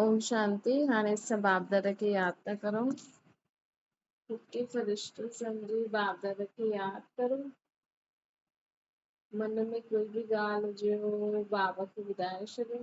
اوم شانتي هاڻي اسان بابداد کي ياد ٿا ڪرون ٺٽي فرشتو سمجهي بابداد کي ياد ڪرو من ۾ ڪوئي به ڳالهه هجي هو بابا کي ٻڌائي ڇڏيو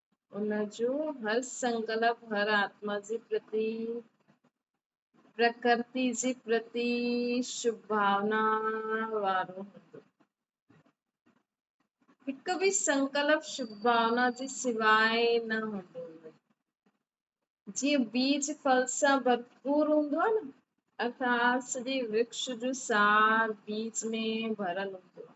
ان جو هر سنڪلپ هر آتما جي پرتي، پرڪرتي جي پرتي شڀ ڀاونا وارو هوندو. هڪ به سنڪلپ شڀ ڀاونا جي سواء نه هوندو. جيئن بيج ڦل سان ڀرپور هوندو آهي نه اٿان سڄي ورڪش جو سار بيج ۾ ڀريل هوندو آهي.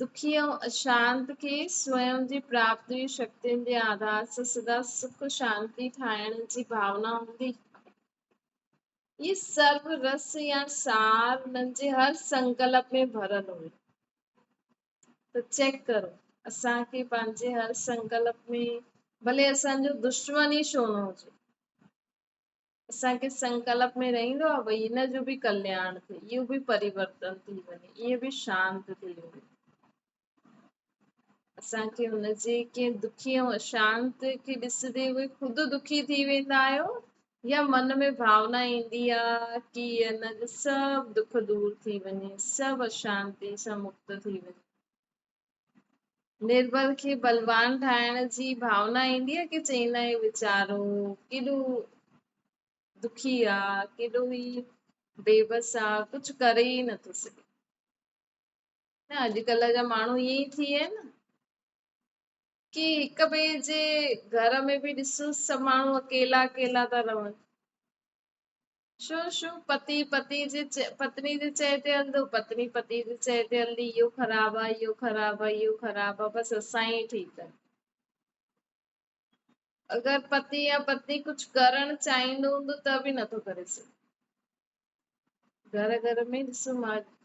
دکي ۽ اشانت کي سوئم جي پرابدوي شڪتين جي آڌار سان سدا سک ۽ شانتي ٺاهڻ جي ڀاونا هوندي. هي سرو رس يا سار انهن جي هر سنڪلپ ۾ ڀريل هوندي. ته چيڪ ڪرو اسان کي پنهنجي هر سنڪلپ ۾، ڀلي اسان جو دشمن ئي ڇو نه هجي، اسان کي سنڪلپ ۾ رهندو آهي ڀئي هن جو به ڪلياڻ ٿئي، اهو به پريورتن ٿي وڃي، اهي به شانت ٿي وڃن. اسان کي هن جي ڪنهن دکي ۽ اشانت کي ڏسندي اهي خود دکي ٿي ويندا آهيو يا من ۾ ڀاونا ايندي آهي ڪي هن جو سڀ دک دور ٿي وڃي، سڀ اشانتي سان مڪت ٿي وڃي. نربل کي بلوان ٺاهڻ جي ڀاونا ايندي آهي ڪي چئيندا آهن ويچارو ڪيڏو دکي آ ڪيڏو ئي بيبس آ ڪجهه ڪري ئي نٿو سگهي نه اڄڪلهه جا ماڻهو ائين ئي ٿي ويا آهن ڪي هڪ ٻئي جي گهر ۾ به ڏسو سڀ ماڻهو اڪيلا اڪيلا ٿا رهن شو شو پتي پتي جي پتني جي چئي تي هلندو پتني پتي جي چئي تي هلندي اهو خراب آ اهو خراب آ اهو خراب آ بس اسان ئي ٺيڪ آهيون اگر پتي يا پتني ڪجهه ڪرڻ چاهيندو هوندو ته به نٿو ڪري سگهي گهر گهر ۾ ڏسو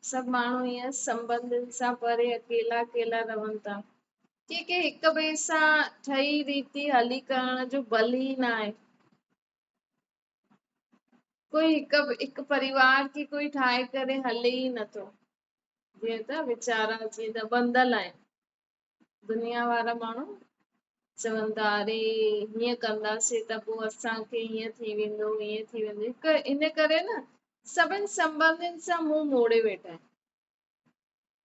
سڀ ماڻهو ائين سمبندن سان پري اڪيلا اڪيلا رهن ٿا ڪي ڪي هڪ ٻئي سان ٺهي ريتي هلي ڪرڻ جو بل ئي نه آهي ڪوئي هڪ هڪ پريوار کي ڪوئي ٺاهي ڪري هلي ئي نٿو جيئن ته ويچارا جيئن ته بندل آهن دنيا وارا ماڻهو چون ٿا اري هيئن ڪنداسي ته پوء اسان کي هيئن ٿي ويندو هيئن ٿي ويندو هڪ ان ڪري نه سڀني سنبندين سان مون موڙي ويٺا آهن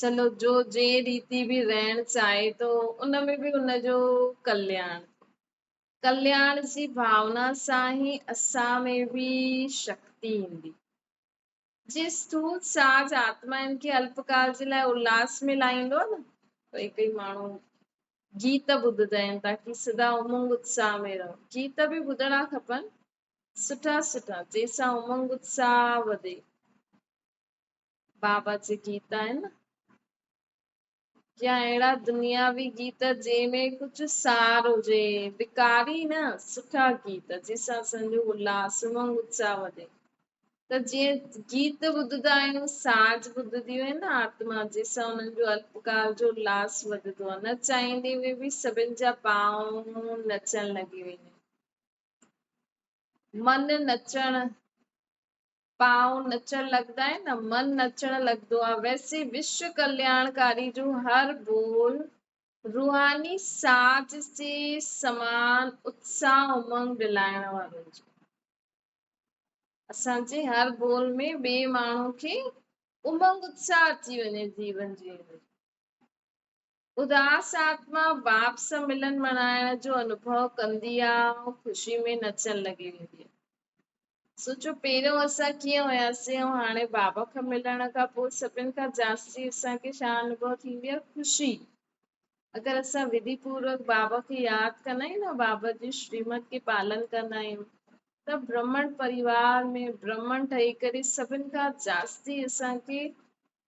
چلو جو جنهن ريتي به رهڻ چاهي ٿو ان ۾ به ان جو ڪلياڻ ڪلياڻ جي ڀاونا سان ئي اسان ۾ به شڪتي ايندي جي اسٿول ساز آتما ان کي الپڪال جي لاء الاس ۾ لائيندو نه ڪئي ڪئي ماڻهو گيت ٻڌندا آهن تاڪي سدا امنگ اتساهه ۾ رهو گيت به ٻڌڻا کپن سٺا سٺا جنهن سان امنگ اتساهه وڌي بابت جي گيت آهن يا اهڙا دنياوي گيت جنهن ۾ ڪجهه سار هجي بيڪاري نه سٺا گيت جنهن سان اسان جو الاس امنگ اتساهه وڌي ته جيئن گيت ٻڌندا آهيون ساز ٻڌنديون آهن نه آتما جنهن سان انهن جو الپڪار جو الاس وڌندو آهي نه چاهيندي هوئي به سڀن جا پاؤن نچڻ لڳي ويندا من نچڻ پاون نچڻ لڳندا آهن نه من نچڻ لڳندو آهي ويسي وشو ڪلياڻڪاري جو هر ٻول روحاني ساز جي سمان اتساهه امنگ ڏلائڻ وارو هجي اسان جي هر ٻول ۾ ٻئي ماڻهو کي امنگ اتساهه اچي وڃي جيون جيئڻ جو اداس آتما باپ سان ملن مڻائڻ جو انوڀو ڪندي آ ۽ خوشي ۾ نچڻ لڳي ويندي آ. سوچو پهريون اسان ڪيئن هياسين ۽ هاڻي بابا کان ملڻ کان پوء سڀن کان جاستي اسان کي ڇا انوڀو ٿيندي آ؟ خوشي. اگر اسان وڌي پوروڪ بابا کي ياد ڪندا آهيون ۽ بابا جي شريمت کي پالن ڪندا آهيون ته برهمڻ پريوار ۾ برهمڻ ٺهي ڪري سڀن کان جاستي اسان کي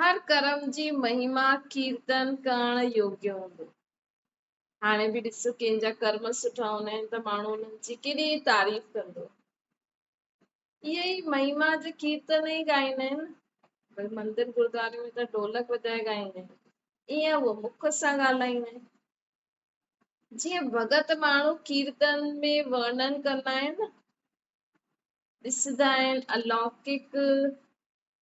هر ڪرم جي مهيما ڪيرتن ڪرڻ يوگي هوندو. هاڻي به ڏسو ڪنهن جا ڪرم سٺا هوندا آهن ته ماڻهو انهن جي ڪيڏي تعريف ڪندو. اهي ئي مهيما جي ڪيرتن ئي ڳائيندا آهن. ڀل مندر گردواري ۾ ته ڍولڪ وڄائي ڳائيندا آهن. ائين هو مک سان ڳالهائيندا آهن. جيئن ڀڳت ماڻهو ڪيرتن ۾ ورنن ڪندا آهن ڏسندا آهن الاوڪڪ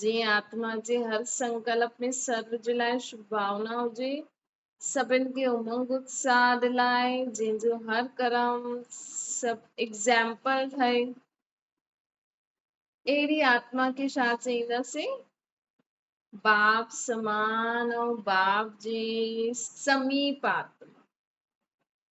جيئن آتما جي هر سنڪلپ ۾ سر جي لاء شڀ ڀاونا هجي، سڀن کي امنگ اتساهه دلائي، جنهن جو هر ڪرم سڀ ايگزامپل ٺهي، اهڙي آتما کي ڇا چئينداسين؟ باب سمان ۽ باب جي سميپ آتما.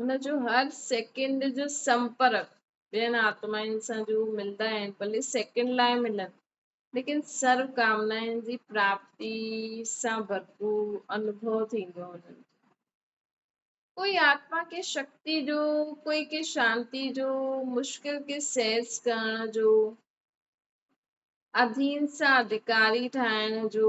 هن جو هر سيڪنڊ جو سنپرڪ ٻين آتمائن سان ضرور ملندا آهن، ڀلي سيڪنڊ لاء ملن، ليڪن سرو ڪامنائن جي پراپتي سان ڀرپور انوڀو ٿيندو آهي هنن کي. ڪوئي آتما ڪي شڪتي جو، ڪوئي ڪي شانتي جو، مشڪل کي سهج ڪرڻ جو، اڌين سان اڌڪاري ٺاهڻ جو،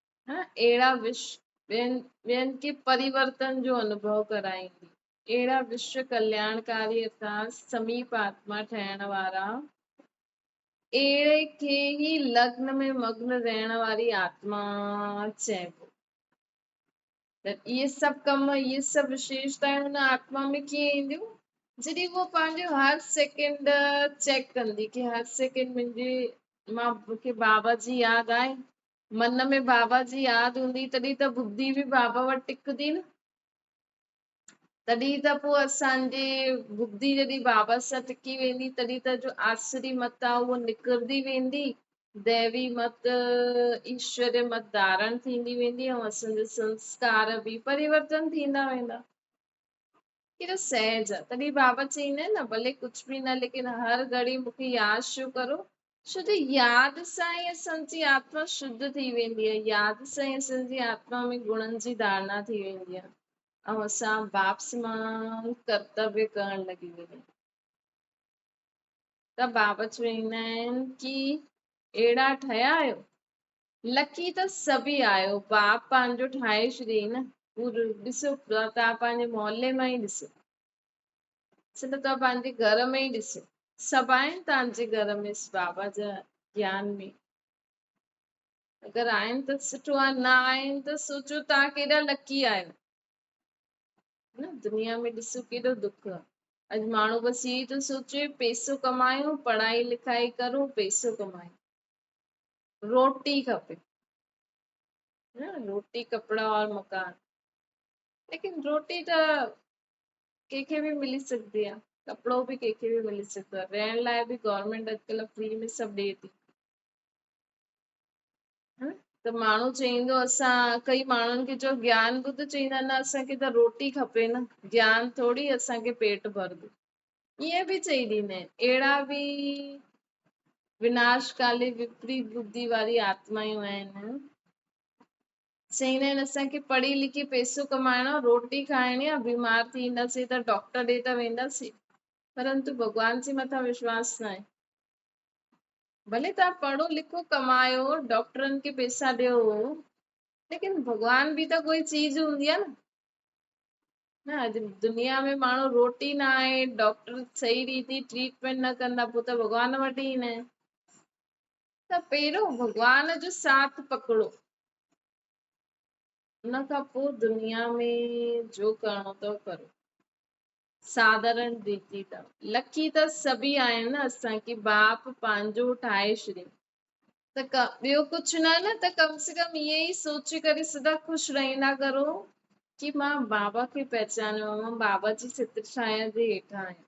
اهڙا وش ٻين کي پريورتن جو انوڀو ڪرائيندي، اهڙا وشو ڪلياڻڪاري سان سميپ آتما ٺهڻ وارا، اهڙي کي ئي لگن ۾ مگن رهڻ واري آتما چئبو. ته اهي سڀ ڪم، اهي سڀ وشيشتائون ان آتما ۾ ڪيئن اينديون؟ جڏهن هوء پنهنجو هر سيڪنڊ چيڪ ڪندي، ڪي هر سيڪنڊ منهنجي مان مون کي بابا جي ياد آهي، من ۾ بابا جي ياد هوندي تڏهن ته بدي به بابا وٽ ٽڪندي نه تڏهن ته پوء اسان جي بدي جڏهن بابا سان ٽڪي ويندي تڏهن ته جو آسري مت آ اهو نکرندي ويندي ديوي مت ايشور مت ڌارڻ ٿيندي ويندي ۽ اسان جا سنسڪار به پريورتن ٿيندا ويندا ڪيڏو سهج آ تڏهن بابا چئيندا آهن نه ڀلي ڪجھ به نه ليڪن هر گهڙي مونکي ياد شو ڪرو ڇو ته ياد سان ئي اسان جي آتما شڌ ٿي ويندي آهي، ياد سان ئي اسان جي آتما ۾ گڻن جي ڌارنا ٿي ويندي آهي ۽ اسان باپس مان ڪرتويه ڪرڻ لڳي ويندا آهيون. ته بابا چويندا آهن ڪي اهڙا ٺهيا آهيو، لڪي ته سڀئي آهيو، باب پنهنجو ٺاهي ڇڏيئي نه، هو ڏسو ته پنهنجي محلي مان ئي ڏسو، سنڌ ته پنهنجي گهر ۾ ئي ڏسي سڀ آهن تنهنجي گهر ۾ اس بابا جا جيان ۾ اگر آهن ته سٺو آهي نه آهن ته سوچو تان ڪيڏا لڪي آهيو نه دنيا ۾ ڏسو ڪيڏو دک آهي اڄ ماڻهو بس هي ٿو سوچي پيسو ڪمايو پڙهائي لکائي ڪرو پيسو ڪمايو روٽي کپي روٽي ڪپڙا اور مڪان ليڪن روٽي ته ڪنهن کي به ملي سگهندي آ ڪپڙو به ڪنهن کي به ملي سگهندو آ رهڻ لاء به گورنمينٽ اڄڪلهه فري ۾ سڀ ڏي ٿي ته ماڻهو چئيندو اسان ڪئي ماڻهن کي جو گيان ٻڌ چئيندا نه اسانکي ته روٽي کپي نه گيان ٿوري اسانکي پيٽ ڀرندو ائين به چئي ڏيندا آهن اهڙا به وناش ڪالي وپريت بدي واري آتمايون آهن سائين نين اسان کي پڙهي لکي پئسو ڪمائڻو روٽي کائڻي آ بيمار ٿي اينداسين ته ڊاڪٽر ڏي ته وينداسين پرنتو ڀڳوان جي مٿان وشواس ناهي ڀلي توهان پڙهو لکو ڪمايو ڊاڪٽرن کي پئسا ڏيو ليڪن ڀڳوان به ته ڪوئي چيز هوندي آ نه اڄ دنيا ۾ ماڻهو روٽي نه آهي ڊاڪٽر صحيح ريتي ٽريٽمينٽ نه ڪندا پوء ته ڀڳوان وٽ ئي نه ته پهريون ڀڳوان جو ساٿ پڪڙو ان کان پوء دنيا ۾ جو ڪرڻو اٿو ڪرو ساڌارن ريتي اٿو لکي ته سڀئي آهن نه اسان کي باپ پنهنجو ٺاهي ڇڏيو ته ٻيو ڪجهه نه نه ته ڪم سي ڪم ائين ئي سوچي ڪري سدا خوش رهندا ڪرو ڪي مان بابا کي پهچانيو آهي مان بابا جي ستر ڇانيا جي هيٺان آهيان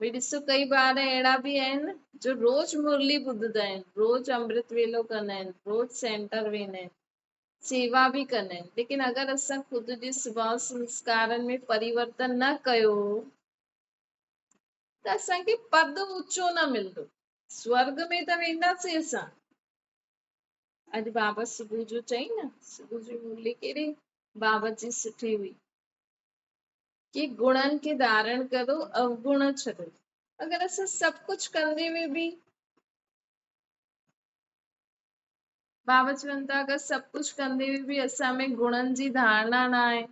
ڀي ڏسو ڪئي ٻار اهڙا به آهن جو روز مرلي ٻڌدا آهن روز امرت ويلو ڪندا آهن روز سينٽر ويندا آهن سيوا به ڪندا آهن ليڪن اگر اسان خود جي سڀاء سنسڪارن ۾ پريورتن نه ڪيو ته اسان کي پد اوچو نه ملندو سورگ ۾ ته وينداسين اسان اڄ بابا صبح جو چئي نه صبح جو مرلي ڪهڙي بابت جي سٺي هئي ڪي گڻن کي ڌارڻ ڪرو اوگڻ ڇڏو اگر اسان سڀ ڪجھ ڪندي ۾ به بابا چون ٿا اگر سڀ ڪجھ ڪندي ۾ به اسان ۾ گڻن جي ڌارنا نه آهي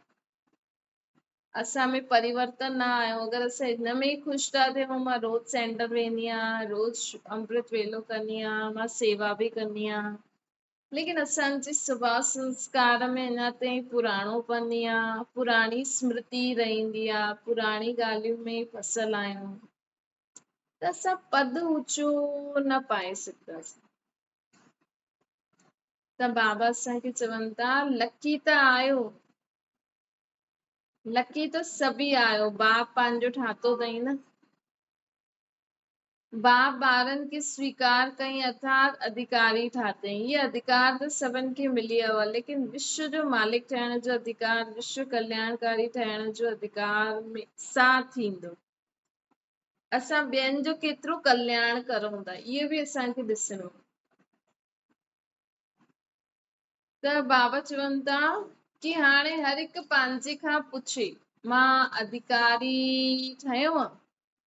اسان ۾ پريورتن نه آيو اگر اسان ان ۾ ئي خوش ٿا ٿيون مان روز سينٽر ويندي آهيان روز امرت ويلو ڪندي آهيان مان سيوا به ڪندي آهيان ليڪن اسان جي سڀاء سنسڪار ۾ اڃا تائين پراڻو پن ئي آ، پراڻي اسمرتي ئي رهندي آ، پراڻي ڳالهين ۾ ئي ڦسيل آهيون ته اسان پد اوچو نه پائي سگهنداسين. ته بابا اسان کي چون ٿا لڪي ته آهيو، لڪي ته سڀ ئي آهيو، باپ پنهنجو ٺاهتو اٿئي نه. باب ٻارن کي سويڪار ڪئين اٿارت اڌيڪاري ٺاتئين هي اڌيڪار ته سڀن کي ملي ويو آهي ليڪن وشو جو مالڪ ٺهڻ جو اڌيڪار وشو ڪلياڻڪاري ٺهڻ جو اڌيڪار سان ٿيندو اسان ٻين جو ڪيترو ڪلياڻ ڪرون ٿا اهو به اسان کي ڏسڻو ته بابا چون ٿا ڪي هاڻي هر هڪ پنهنجي کان پڇي مان اڌيڪاري ٺهيو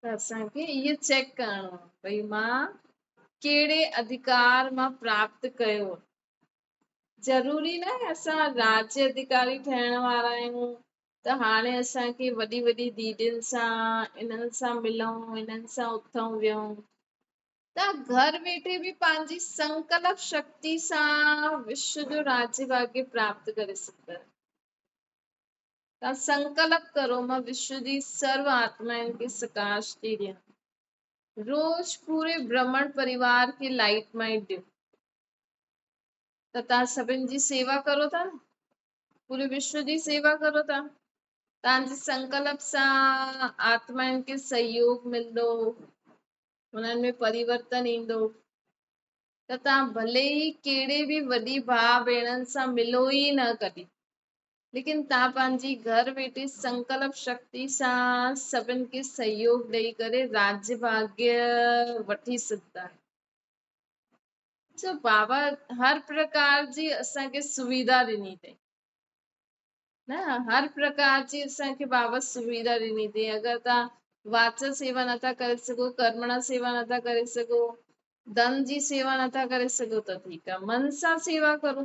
ته اسان کي اهو چيڪ ڪرڻو آهي ڀئي مان ڪهڙي اڌڪار مان پراپت ڪيو ضروري نه آهي اسان راجي اڌڪاري ٺهڻ وارا آهيون ته هاڻي اسان کي وڏي وڏي ديدين سان انهن سان ملون انهن سان اٿون ويهون ته گهر ويٺي به پنهنجي سنڪلپ شڪتي سان وشو جو راجي ڀاڳي پراپت ڪري سگهندا تان سنڪلپ ڪرو مان وشو جي سرو آتمائن کي سڪاش ٿي ڏيان روز پوري برهمڻ پريوار کي لائٽ مائٽ ڏيو ته تان سڀن جي سيوا ڪرو ٿا نه پوري وشو جي سيوا ڪرو ٿا تان جي سنڪلپ سان آتمائن کي سهيوگ ملندو انهن ۾ پريورتن ايندو ته تان ڀلي ئي ڪهڙي به وڏي ڀاء ڀيڻن سان ملو ئي نه ڪڏي ليڪن تان پنهنجي گهر ويٺي سنڪلپ شڪتي سان سڀن کي سهيوگ ڏئي ڪري راجيه ڀاڳيه وٺي سگهندا آهيون سو بابا هر پرڪار جي اسان کي سويڌا ڏني اٿئي نه هر پرڪار جي اسان کي بابا سويڌا ڏني اٿئي اگر تان واچ سيوا نٿا ڪري سگهو ڪرمڻا سيوا نٿا ڪري سگهو دن جي سيوا نٿا ڪري سگهو ته ٺيڪ آهي من سان سيوا ڪرو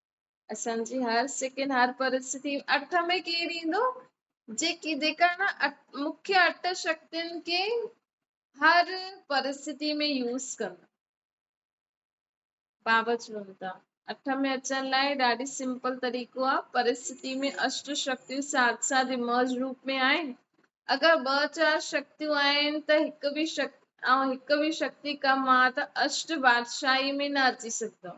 اسان جي هر سڪن هر پرستي اٺ ۾ ڪير ايندو جيڪي جيڪا نا مکي اٺ شڪتين کي هر پرستي ۾ يوز ڪن بابا چون ٿا اٺ ۾ اچڻ لاء ڏاڍي سمپل طريقو آ پرستي ۾ اشٽ شڪتيون ساٿ ساٿ امرج روپ ۾ آهن اگر ٻه چار شڪتيون آهن ته هڪ به شڪ هڪ به شڪتي ڪم آ ته اشٽ بادشاهي ۾ نه اچي سگهندو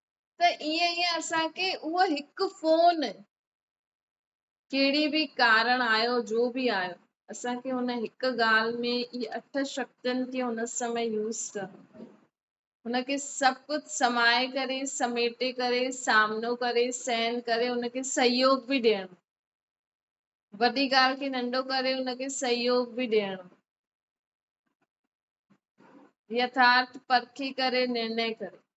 ته ائين ئي اسان کي اهو هڪ فون ڪهڙي به ڪارڻ آيو جو به آيو اسان کي هن هڪ ڳالهه ۾ اي اٺ شڪتين کي هن سمي يوز ڪرڻو هن کي سڀ ڪجهه سمائي ڪري سميٽي ڪري سامنو ڪري سهن ڪري هن کي سهيوگ به ڏيڻو وڏي ڳالهه کي ننڍو ڪري هن کي سهيوگ به ڏيڻو يٿارٿ پرکي ڪري نرني ڪري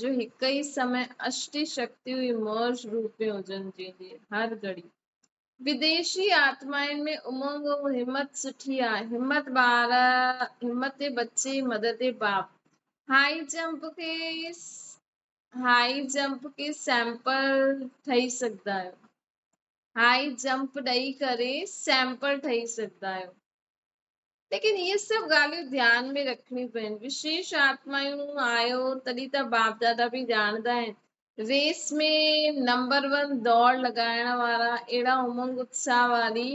جو هڪ ئي سمي اشٽي شڪتيون ئي موج روپيون هجن جنهن جي هر گهڙي بديشي آتمائن ۾ امنگ ۽ همت سٺي آ همت ٻار همت بچي مدد باپ هائي جمپ کي هائي جمپ کي سيمپل ٺهي سگهندا آهيو هائي جمپ ڏئي ڪري سيمپل ٺهي سگهندا آهيو. ليڪن اهي سڀ ڳالهيون ڌيان ۾ رکڻيون پين. وشيش آتمايون آيو تڏهن ته باپ دادا به ڄاڻندا آهن. ريس ۾ نمبر ون دوڙ لڳائڻ وارا اهڙا امنگ اتساهه واري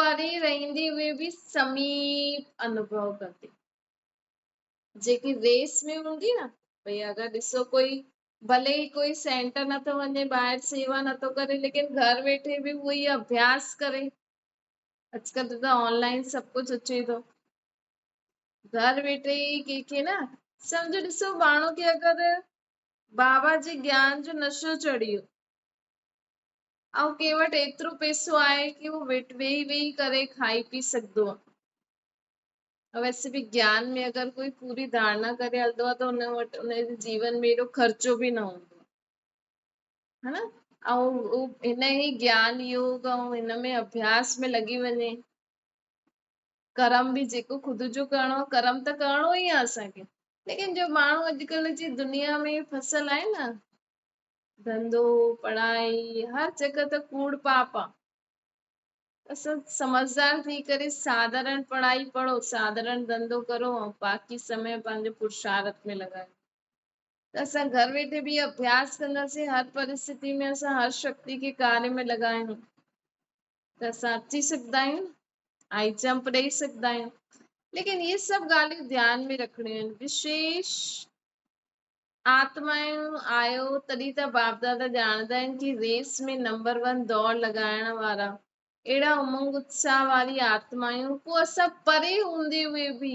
پري رهندي هئي به سميپ انوڀو ڪندي جيڪي ريس ۾ هوندي نه ڀئي اگر ڏسو ڪوئي ڀلي ئي ڪوئي سينٽر نٿو وڃي ٻاهر سيوا نٿو ڪري ليڪن گهر ويٺي به اهو ئي اڀياس ڪري اڄڪلھ ته ته آن لائن سڀ ڪجهه اچي ٿو گهر ويٺي ئي ڪنهن کي نه سمجھو ڏسو ماڻهو کي اگر بابا جي گيان جو نشو چڙهي ويو ۽ ڪنهن وٽ ايترو پيسو آهي ڪي هو ويٺ ويهي ويهي ڪري کائي پي سگھدو آهي ويسي به گيان ۾ اگر ڪوئي پوري ڌارنا ڪري هلندو آهي ته ان وٽ ان جي جيون ۾ ايڏو خرچو به نه هوندو ها نه ۽ هن هي گيان يوگ ۽ هن ۾ اڀياس ۾ لڳي وڃي ڪرم به جيڪو خود جو ڪرڻو آهي ڪرم ته ڪرڻو ئي آهي اسان کي ليڪن جو ماڻهو اڄڪلھ جي دنيا ۾ فصل آهي نه ڌنڌو پڙهائي هر جڳھ ته ڪوڙ پاپ آهي اسان سمجھدار ٿي ڪري ساڌارن پڙهائي پڙهو ساڌارن ڌنڌو ڪرو ۽ باقي سمي پنهنجو پرشارت ۾ لڳايو اسان گهر ويٺي به اهو اڀياس ڪنداسين. هر پرستتي ۾ اسان هر شڪتي کي ڪاري ۾ لڳايون ته اسان اچي سگهندا آهيون، هائي جمپ ڏئي سگهندا آهيون. ليڪن اهي سڀ ڳالهيون ڌيان ۾ رکڻيون آهن. وشيش آتمائون آيو تڏهن ته باپ دادا ڄاڻندا آهن ڪي ريس ۾ نمبر ون دوڙ لڳائڻ وارا اهڙا امنگ اتساهه واري آتمائون ڪو اسان پري هوندي هئي به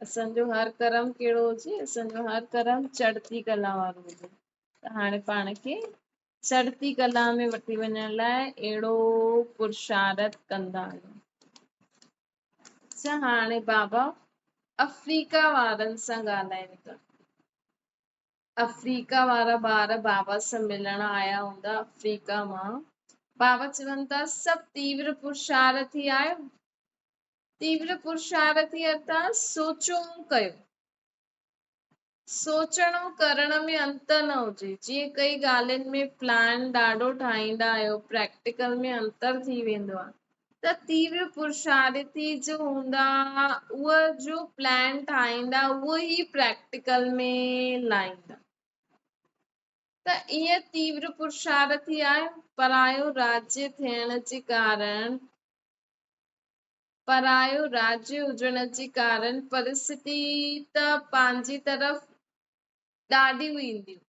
اسان جو هر ڪرم ڪهڙو هجي اسان جو هر ڪرم چڙتي ڪلا وارو هجي ته هاڻي پاڻ کي چڙتي ڪلا ۾ وٺي وڃڻ لاء اهڙو پرشارت ڪندا آهيون اچھا هاڻي بابا افريقا وارن سان ڳالهايون ٿا افريقا وارا ٻار بابا سان ملڻ آيا هوندا افريقا مان بابا چون ٿا سڀ تيور پرشارٿي آيو تيور پرشار ٿي اٿا سوچون ڪيو. سوچڻ ۽ ڪرڻ ۾ انتر نه هجي. جيئن ڪئي ڳالهين ۾ پلان ڏاڍو ٺاهيندا آهيو پريڪٽيڪل ۾ انتر ٿي ويندو آهي ته تيور پرشار ٿي جو هوندا اهو جو پلان ٺاهيندا اهو ئي پريڪٽيڪل ۾ لائيندا ته ائين تيور پرشار ٿي آهيو پرايو راجي ٿيڻ جي ڪارڻ پرايو راڄ هجڻ جي ڪارڻ پرستي ته پنهنجي طرف ڏاڍيون اينديون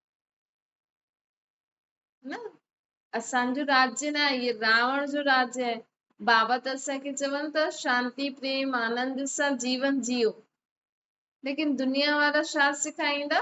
نه اسان جو راج نه آهي هي راوڻ جو راج آهي بابا ته اسان کي چون ٿا شانتي پريم آنند سان جيون جيو ليڪن دنيا وارا ڇا سيکاريندا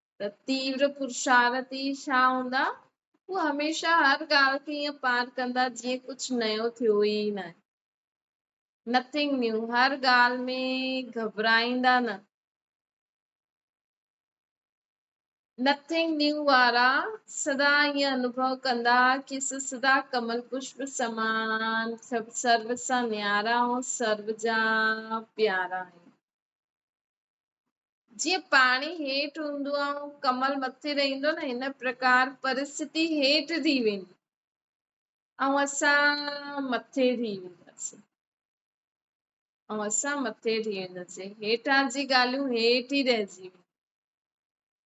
ته تيور پرشارتي ڇا هوندا؟ هو هميشه هر ڳالهه کي ائين پار ڪندا جيئن ڪجهه نيو ٿيو ئي ناهي. Nothing new هر ڳالهه ۾ گهٻرائيندا نه. Nothing new وارا سدا ائين انوڀو ڪندا کيس سدا ڪمل پشپ سمان سڀ سرو سان نيارا ۽ سرو جا پيارا آهن. جيئن پاڻي هيٺ هوندو آهي ۽ ڪمل مٿي رهندو نه هن پرڪار پرستتي هيٺ ٿي ويندي ۽ اسان مٿي ٿي وينداسين ۽ اسان مٿي ٿي وينداسين هيٺان جي ڳالهيون هيٺ ئي رهجي وينديون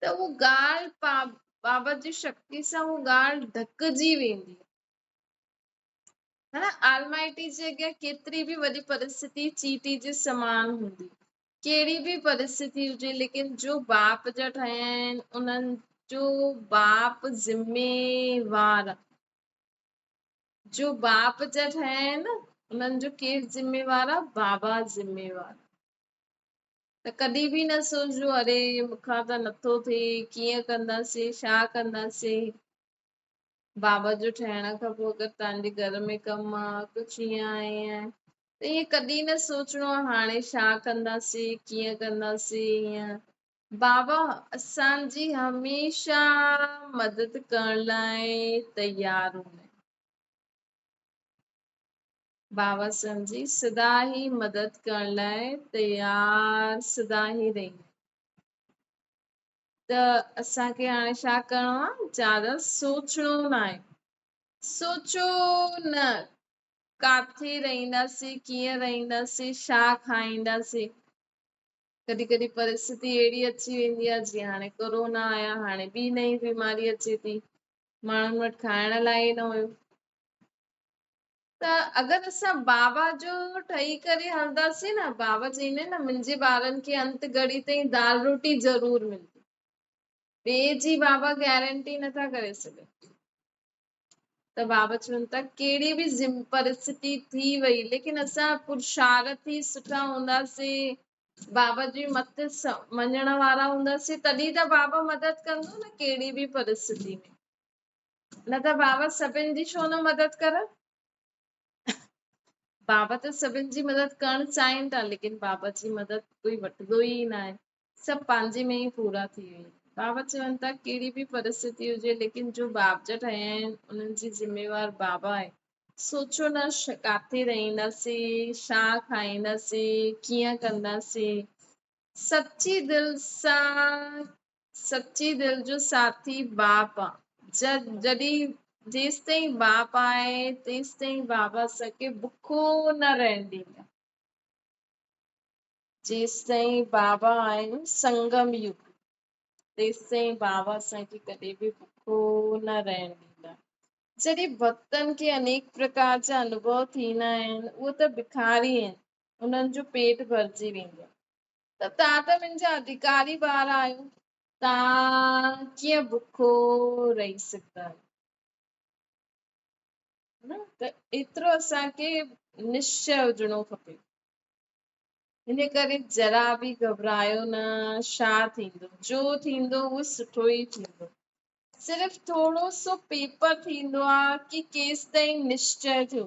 ته اهو ڳالهه بابت جي شڪتي سان اهو ڳالهه ڍڪجي ويندي هن آلمائٽي جي اڳيان ڪيتري به وڏي پرستتي چيٽي جي سمان هوندي ڪهڙي به پرستتي هجي ليڪن جو باپ جا ٺهيا آهن انهن جو باپ ذميوار جو باپ جا ٺهيا آهن انهن جو ڪير ذميوار آهي بابا ذميوار ته ڪڏهن به نه سوچجو اري مون کان ته نٿو ٿئي ڪيئن ڪنداسين ڇا ڪنداسين بابا جو ٺهڻ کان پوء اگر تنهنجي گهر ۾ ڪم آ ڪجهه ائين آ ائين آ ته ائين ڪڏهن نه سوچڻو آ هاڻي ڇا ڪنداسين ڪيئن ڪنداسين ائين بابا اسان جي هميشه مدد ڪرڻ لاء تيار هوندا بابا سمجهي سدا هي مدد ڪرڻ لاء تيار سدا هي رهي ته اسان کي هاڻي ڇا ڪرڻو آ زياده سوچڻو ناهي سوچو نه ڪاٿي رهنداسين ڪيئن رهنداسين ڇا کائينداسين ڪڏهن ڪڏهن پرستتي اهڙي اچي ويندي آ جيئن هاڻي ڪورونا آيا هاڻي ٻي نئين بيماري اچي ٿي ماڻهن وٽ کائڻ لاء ئي نه هيو ته اگر اسان بابا جو ٺهي ڪري هلنداسين نه بابا چئين نه منهنجي ٻارن کي انت گهڙي تائين دال روٽي ضرور ملندي ٻي جي بابا گيرنٽي نٿا ڪري سگهن ته بابا چون ٿا ڪهڙي به ذم پرستي ٿي وئي ليڪن اسان پرشارٿي سٺا هونداسين بابا جي مت مڃڻ وارا هونداسين تڏهن ته بابا مدد ڪندو نه ڪهڙي به پرستي ۾ نه ته بابت سڀن جي ڇو نه مدد ڪر. بابت سڀن جي مدد ڪرڻ چاهين ٿا ليڪن بابت جي مدد ڪوئي وٺندو ئي ناهي سڀ پنهنجي ۾ ئي پورا ٿي ويا بابا چون ٿا ڪهڙي به پرستتي هجي ليڪن جو باب جا ٺهيا آهن انهن جي ذميوار بابا آهي سوچو نه ڪاٿي رهنداسين شا کائينداسين ڪيئن ڪنداسين سچي دل سان سچي دل جو ساٿي باپ آ. جڏهن جيستائين باپ آهي تيستائين بابا اسان کي بکو نه رهڻ ڏيندا. جيستائين بابا آهن سنگم يوگ تيستائين بابا اسان کي ڪڏهن به بکو نه رهڻ ڏيندا. جڏهن ڀڳتن کي انيڪ پرڪار جا انوڀو ٿيندا آهن اهي ته بکاري آهن انهن جو پيٽ ڀرجي ويندو آهي. ته تان ته منهنجا ادهڪاري ٻار آهيو، تان ڪيئن بکو رهي سگهندا آهيو. ته ايترو اسان کي نشچئه هجڻو کپي. ان ڪري ذرا به گهٻرايو نه، ڇا ٿيندو، جو ٿيندو اهو سٺو ئي ٿيندو. صرف ٿورو سو پيپر ٿيندو آهي ڪي ڪيستائين نشچئه ٿيو.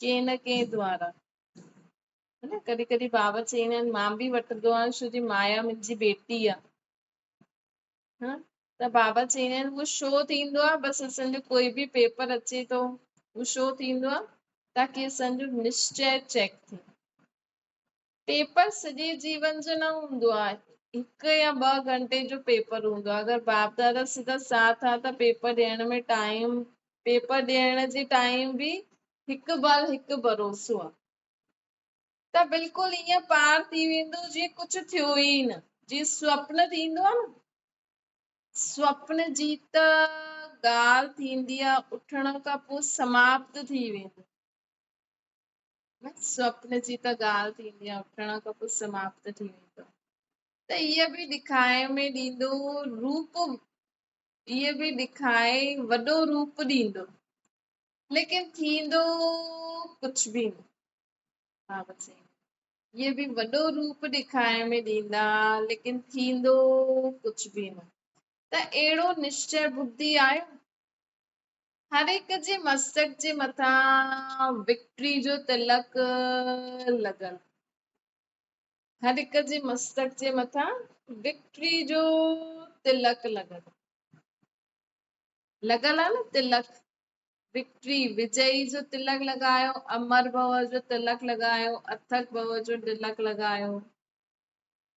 ڪنهن نه ڪنهن دوارا ها نه ڪڏهن ڪڏهن بابا چئين آهن مان به وٺندو آهيان شو جي مايا منهنجي بيٽي آ ها ته بابا چئين آهن هو شو ٿيندو آ بس اسان جو ڪوئي به پيپر اچي ٿو هو شو ٿيندو آ تاڪي اسان جو نشچي چيڪ ٿي پيپر سڄي جيون جو نه هوندو آهي هڪ يا ٻه گهنٽي جو پيپر هوندو آهي اگر باپ دادا سڌا ساٿ آهي ته پيپر ڏيڻ ۾ ٽائيم پيپر ڏيڻ جي ٽائيم به هڪ بال هڪ ڀروسو آهي ته بلڪل ائين پار ٿي ويندو جيئن ڪجهه ٿيو ئي نه جي سپن ٿيندو آهي نه سپن جي ته ڳالهه ٿيندي آهي اٿڻ کان پوء سماپت ٿي ويندو سپن جي ته ڳالهه ٿيندي آهي اٿڻ کان پوء سماپت ٿي ويندو ته هيء به ڏکائي ۾ ڏيندو روپ هيء به ڏکائي وڏو روپ ڏيندو ليڪن ٿيندو ڪجهه به نه ها بس هيء به وڏو روپ ڏکائي ۾ ڏيندا ليڪن ٿيندو ڪجهه به نه ته اهڙو نشچي ٻڌي آيو هر هڪ جي مستڪ جي مٿان وڪٽري جو تلڪ لڳل هر هڪ جي مستڪ جي مٿان وڪٽري جو تلڪ لڳل لڳل آهي نه تلڪ وڪٽري وجئي جو تلڪ لڳايو امر بهو جو تلڪ لڳايو اٿڪ بهو جو تلڪ لڳايو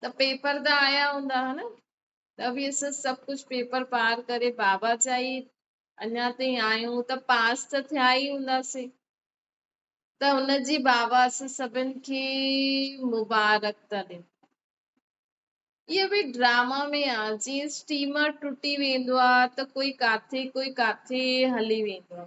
ته پيپر ته آيا هوندا ها نه. ته به اسين سڀ ڪجهه پيپر پار ڪري بابا جا ئي اڃا تائين آهيون ته پاس ته ٿيا ئي هونداسين. ته ان جي بابا اسين سڀن کي مبارڪ ٿا ڏيون. اهو به ڊراما ۾ آ جيئن اسٽيمر ٽٽي ويندو آ ته ڪوئي ڪاٿي ڪوئي ڪاٿي هلي ويندو آ.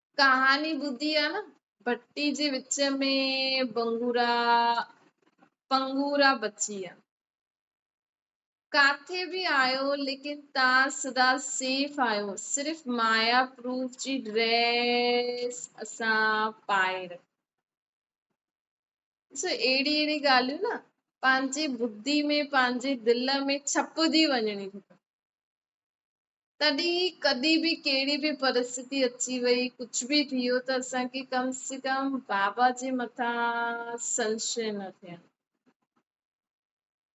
ڪهاڻي ٻڌي آ نه ڀٽي جي وچ ۾ بنگورا پنگورا بچي ويا ڪاٿي به آيو ليڪن تان سدا سيف آيو صرف مايا پروف جي ڊريس اسان پائي رکي سو اهڙي اهڙي ڳالهيون نه پنهنجي ٻڌي ۾ پنهنجي دل ۾ ڇپجي وڃڻي کپن تڏهن ئي ڪڏهن به ڪهڙي به پرستتي اچي وئي ڪجهه به ٿيو ته اسان کي ڪم سي ڪم بابا جي مٿان سنشي نه ٿين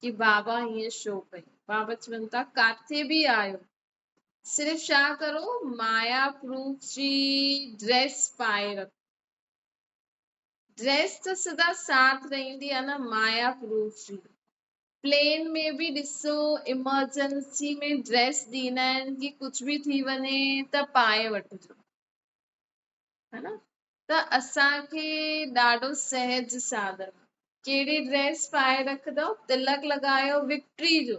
ڪي بابا هيئن شو ڪيو بابا چون ٿا ڪاٿي به آيو صرف شا ڪرو مايا پروف جي ڊريس پائي رکو ڊريس ته سدا ساٿ رهندي آ نه مايا پروف جي پلين ۾ به ڏسو ايمرجنسي ۾ ڊريس ڏيندا آهن ڪي ڪجھ به ٿي وڃي ته پائي وٺجو ها نه ته اسان کي ڏاڍو سهج سادن ڪهڙي ڊريس پائي رکندو تلڪ لڳايو وڪٽري جو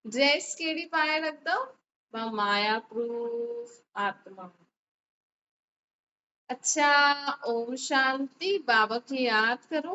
ڊريس ڪهڙي پائي رکندو مان مايا پروف آتما اڇا اوم شانتي بابا کي ياد ڪرو